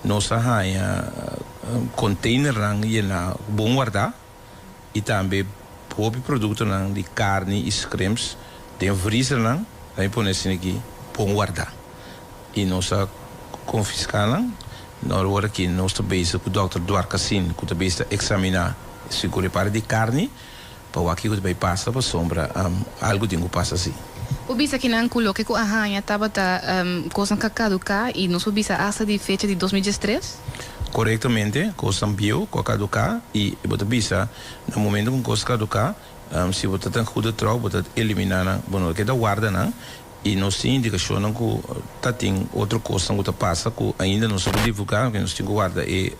Nos a haña containernan yená cu bon wardá y tambe hopi productonan di carni y scrimps den vriesernan nan e pone asina aki bon wardá y nos a confiscá nan. Na awor aki nos ta bezig cu Dòkter Dwarkasin cu ta bezig ta examiná si cu e para di carni. Pa wak kiko ta bay pasa pa sombra am algo tin cu pasa si. Bo bisa kinan cu loke cu a haña tabata cosnan ca caduca y nos por bisa hasta di fecha di dos mil diestres? Corectamente cosnan bieuw cu a caduca y bo ta bisa na momento cu un cos caduca si bo ta ta huda trouw bo ta elimina nan bo no ta keda warda nan y nos tin indicacionnan cu ta tin otro cosnan cu ta pasa cu ainda nos no por divulga porque nos tin cu warda e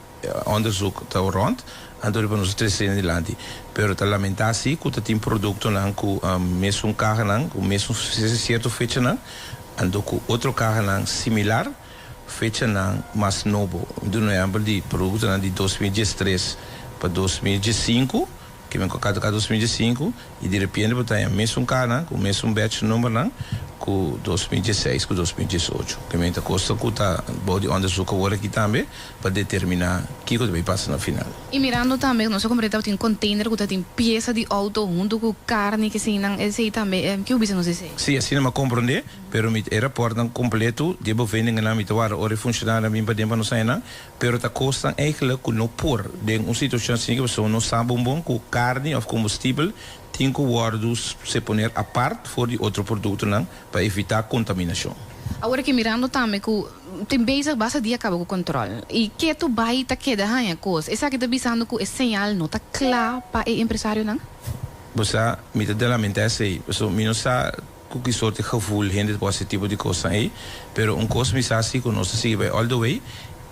Onderzoek ta rond, anto riba nos a trese den dilanti. Pero ta lamentá sí cu ta tin productonan cu mesun cahanan cu mesun cierto fechanan, anto cu otro cahanan similar fechanan mas nobo. Mi duna un ehempel di productonan di dos mil diestres pa dos mil diescinco. Kimen cu a cata ca dos mil diesinku y di repiente por ta haña mesun cananan cu mesun batch numbernan cu dos mil diesseis cu dos mil diesocho. Kimen ta cosnan cu ta bao di onderzoek awor aki tambe pa determina kico ta bay pasa na final. Y mirando tambe nos a comprende tabata tin container cu ta tin pieza di auto hunto cu carni kesinan esey tambe ki bo bisa nos esey? Si, asina mi a comprende, pero mi e rapportnan completo di e boveningennan mi ta warda ora e funcionarionan a bin paden pa nos haña nan. Pero ta kosnan eikelijk ku no por den un situashon asina ku pasobra no sa bon bon ku karni òf kombustibel tin ku wòrdu ser poner apart for di otro produktonan pa evitá kontaminashon. Awor ke mirando tambe ku tin bezig basta dia kaba ku kòntròl i ke tu bai ta keda haña kos, esaki ta bisando ku e señal no ta kla pa e empresarionan? Bo sa, mi ta delamenté esei pasobra mi no sa. Cu ki sorti gevoel hende ta por haci e tipo di cosnan ey. Pero un cos mi sa si, cu nos ta sigui bay all the way.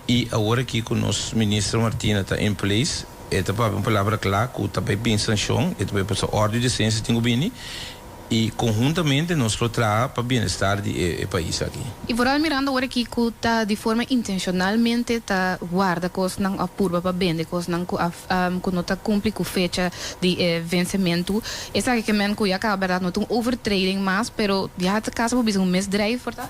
Y awor aki cu nos Minister Martina ta in place, e ta papia un palabra cla cu ta bay bin sancion, e ta bay pasa ordo y decencia tin cu bini. Y conhuntamente nos lo traha pa bienestar di e pais aki. Y vooral mirando awor aki cu ta di forma intencionalmente ta warda cosnan of purba pa bende cosnan cu a ku no ta kumpli ku fecha di e vensementu. Esaki ke men ku ya kaba bèrdat no ta un overtreding mas, pero ya a kasa por bisa un misdrijf por ta.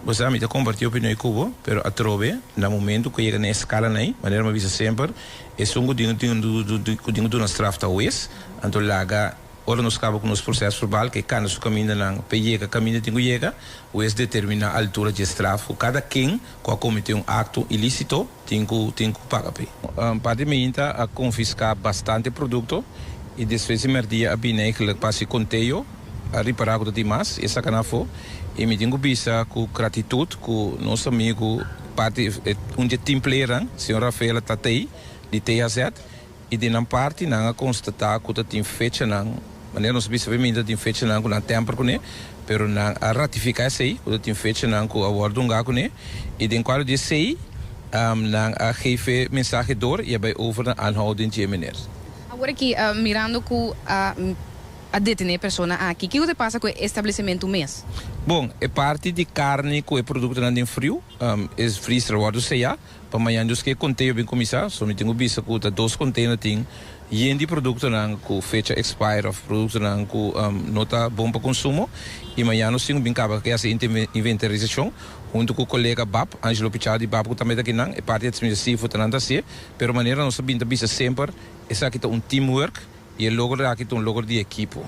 Bo sa mi ta kompartí opinion ku bo, pero atrobe na momentu ku a yega na e skalanan ei, manera mi a bisa semper, esun ku tin ku tin ku duna straf ta wes. Anto laga ora nos kaba ku nos proses verbal ke kanda su kamindanan p'e yega kaminda tin ku yega, wes determiná altura dje straf ku kada ken ku a kometé un akto ilísito. tin ku tin ku paga p'e. Un par di meinta a konfiská bastante produkto i despues di mèrdia a bini eigenlijk pa hasi konteo, a ripará ku ta tin mas i a sakanan afó. I mi tin ku bisa ku gratitut ku nos amigu, parti un di e team playernan, señor Rafael Tatey di THZ, I den nan parti nan a konstatá ku ta tin fechanan, manera nos a bisa awe mi ta tin fechanan ku nan tèmper kuné, pero nan a ratifiká esei ku ta tin fechanan ku a wòrdu ungá kuné, i den kuadro di esei nan a gefe mensahe dor i a bai over na aanhou den dje meneer. Awor aki mirando ku a detené e persona aki, kiko ta pasa ku e establesimentu mes? Bon, e parti di karni ku e produktonan den friu, es frizra wòrdu seá. Pa mañan dus ke konteyo bin kuminsá, so mi tin ku bisa ku ta dos konteyo na tin yen di produktonan ku fecha expire òf produktonan ku no ta bon pa konsumo i mañan nos tin ku bin kaba ke hasi inventarisashon huntu ku kolega bap Angelo Pichal di bap ku tambe ta kinan e parti administrativo ta nan ta hasié pero manera nos a bin ta bisa semper esaki ta un teamwork i e logro aki ta un logro di ekipo.